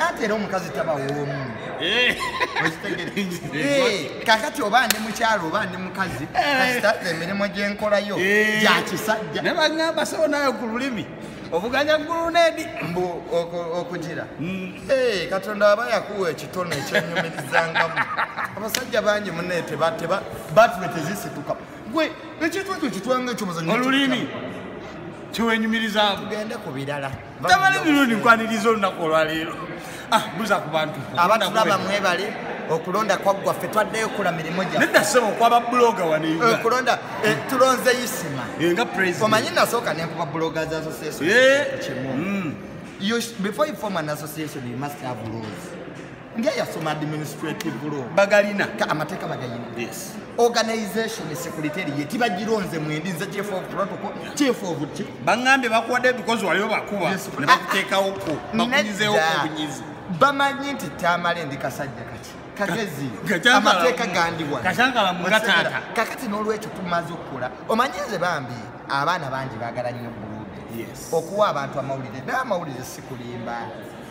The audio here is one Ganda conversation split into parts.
ate era omukazi taba woomu eh. eh, kakati oba ndi mukyalo oba ndi mukazi eh. kasita emirimu gyenkolayo gyakisajja ne bagamba sebo nayo ku lulimi obuganya guluneedi mbu okugira mm. eh, katonda aba yakuwa ekitono ekyenyumirizangamu abasajja bangi muneete batule tezisituka gwe ekintu ekyo kitwanga ekyomuzanyo olulimi kyewenyumirizamu tugende ku birala tabale mirundi nkwaniriza olunaku olwaleero ah, buza ku bantu abatulaba mwebale okulonda kwaggwa ffe twaddeyo okola mirimu gyaokulonda eh, eh, tulonze isima eh, omanyi nasooka nenkuba buloga za association kimu mm. before you form an association you must have rules nga yasoma administrative law bagalina ka amateeka bagayina yes organization security ye tibagironze mwendi nze chief of protocol yeah. chief of chi bangambe bakwade because waliwo bakuba yes. ne bakutekawo ko ah, bakunyizewo obunyizi bamanyi nti tamale ndi kasajja kati kagezi amateeka gandiwa kashangala mugatata kakati n'olwekyo tumaze okukola omanyi nze bambi abaana bangi bagala nnyo bulude yes. okuwa abantu amawulire naye amawulire sikulimba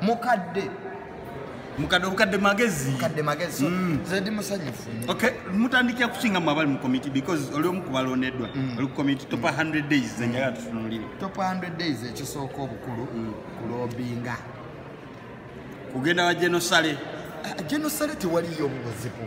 mukadde mukadde obukadde magezi mukadde magezi so mm. nze ndi musanyufu okay mutandikira kusinga mu abali mu committee because oli omu kubalondeddwa mm. oli ku committee topa 100 mm. days ze njagala tutunulire topa 100 days ekisooka obukulu mm. kulobinga kugenda wa genosale ah, genosale tewaliyo mu buzibu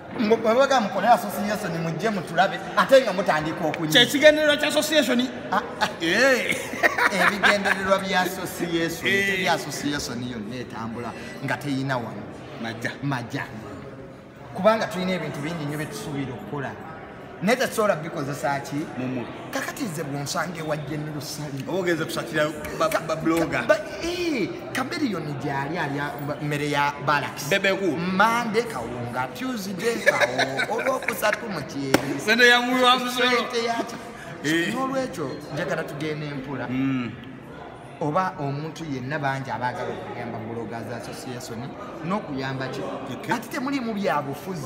bwebagamba mukole association mujje mutulabe ate nga mutandika okunya kyekigendererwa kya association ah, ah. Eh. ebigendererwa bya association eh. teri association yonna etambula nga teyina wano maja maja kubanga tulina ebintu bingi nyo byetusuubira okukola naye tesobola bikozesa ki mumuli kakati nze bwonsanga ewajje ne lusali oba ogenze kusakira babloga eh, kameriyoni gyali alya mmere ya balakis bebeku mande kawunga tuesday kawo olwokusatu mu kyeri sente yamuwi wa musolo eh. n'olwekyo njagala tugenda empula hmm. oba omuntu yenna bangi abaagala okuyamba buloga za association n'okuyamba ki ati temulimu byabufuzi